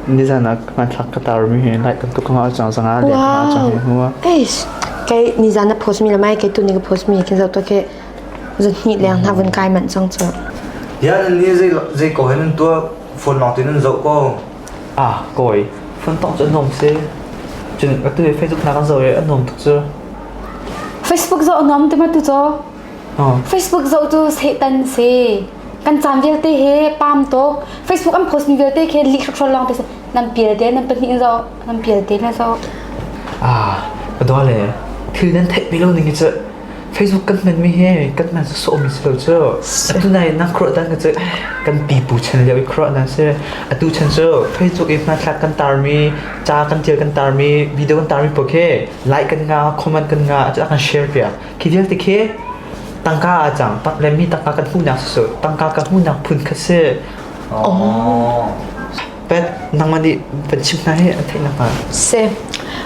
Nizan ah hmanthlak ka tarmi hi light tam tuk ka ngah cang zang ah light ka ngah cang hi hnu ah. Eish, kei nizan na post mi le mai kei tu ni ka post mi kin zau to ke zun hni leng na vun kai man chang chu. Dia nan ni zei zei ko hen tua phone long tin nan zo ko. Ah, koi. Phone tong chu nom se. Cun waktu ni Facebook na kan zo e anom tuk chu. Facebook zo nom te ma tu cho. Oh. Facebook zo tu setan se. kan caan vialte he pam tuk facebook an post mi vialte khi li khrual long pe nan pial te nan pahnih zo nan pial te na zo ah padwa le thil nan thei pe lo ning chu facebook kan man mi he kan man so mi si lo chu atu nai na khro dan ka chu kan pi pu chen le khro na se atu chen chu facebook e ma thla kan tar mi cha kan til kan tar mi video kan tar mi po ke like kan nga comment kan nga chu kan share pia Khi vialte khi tangka a cang lemmi tangka kan hmuhnak cu tangka kan hmuhnak phun kha si. Oh. Pet nangman nih van chim hna hi an theih nakhnga. Si.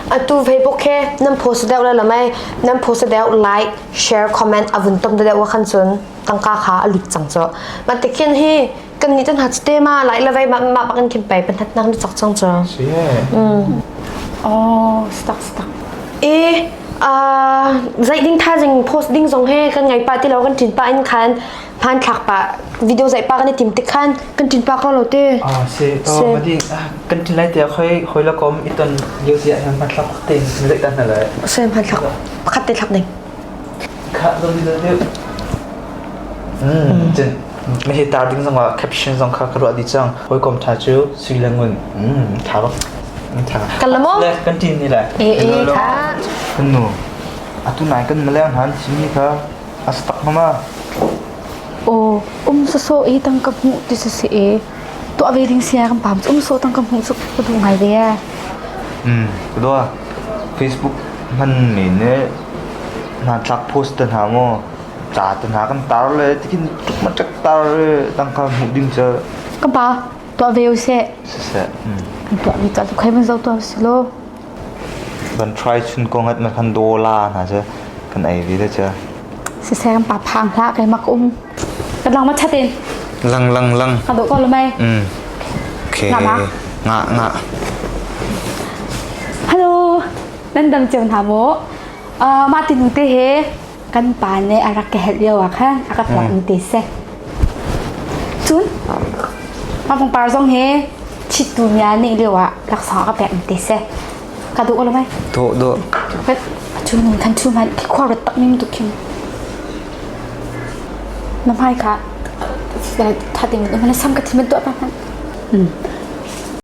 Atu Facebook he nan post deuh la lamai nan post deuh like share comment avun tom de deuh wa khan chun tangka kha a lut chang cho. Matikin hi kan ni tan ha te ma lai la vai ma ma bakin kim pai pan hat nak nu chak chang cha mm oh stuck stuck e a zai ding tha jing post ding zong he kan ngai pa ti lo kan tin pa in khan phan thak pa video zai pa kan tim te khan kan tin pa ko lo te ah se to badi kan tin lai te khoi khoi la kom iton liu sia hem phan thak te zai ta na lai se phan thak pakhat te thak ding kha do di do de mm chen Meheh tar ding zong ah caption zong kha ka ruah dih cang. Hawikom tha cu sui le ngun. Mm, tha bak. Mm, tha. Kan la maw? Le kan tin ni le. Eh eh tha. Kan nu. Atu nai kan maleng han sini kha astak mama. Oh, um so so e tang ka mu ti so si e. Tu ave ding sia kan pam um so tang ka mu su ku du ngai ve. Mm, kedua. Facebook man ni ne na tlak post dan ha mo. Ca te hna kan tar le tikhin maṭek tar tang kha hmuh ding cu Ka pa, tuah ve u sih. siseh. Mm. Kan tuahmi ca cu khoi van zoh tuah sih law. Kan try chun ko ngat man khan dola hna cu kan ei ve te cu. Siseh kan pa phang hlah keimak um. Kan lang ma ṭhat in. Lang lang lang. Ka dawh ko lo mei. Mm. Okay. Ngah ma? Ngah ngah. Hello. Nan dang ceu hna maw? Uh, mah tinu te he kan pa nih a rak ka helh lio ah khan a ka hlawkmi te si. Cun a pangpar zong hi chittu mia nih lio ah laksawng a ka pekmi te si. Ka duh lo mai. Dawh dawh. Ka cu ning kan cu man khi khua rat tak ning tuk khin. Na hmai kha thating na sam ka thimin tuah pa hman.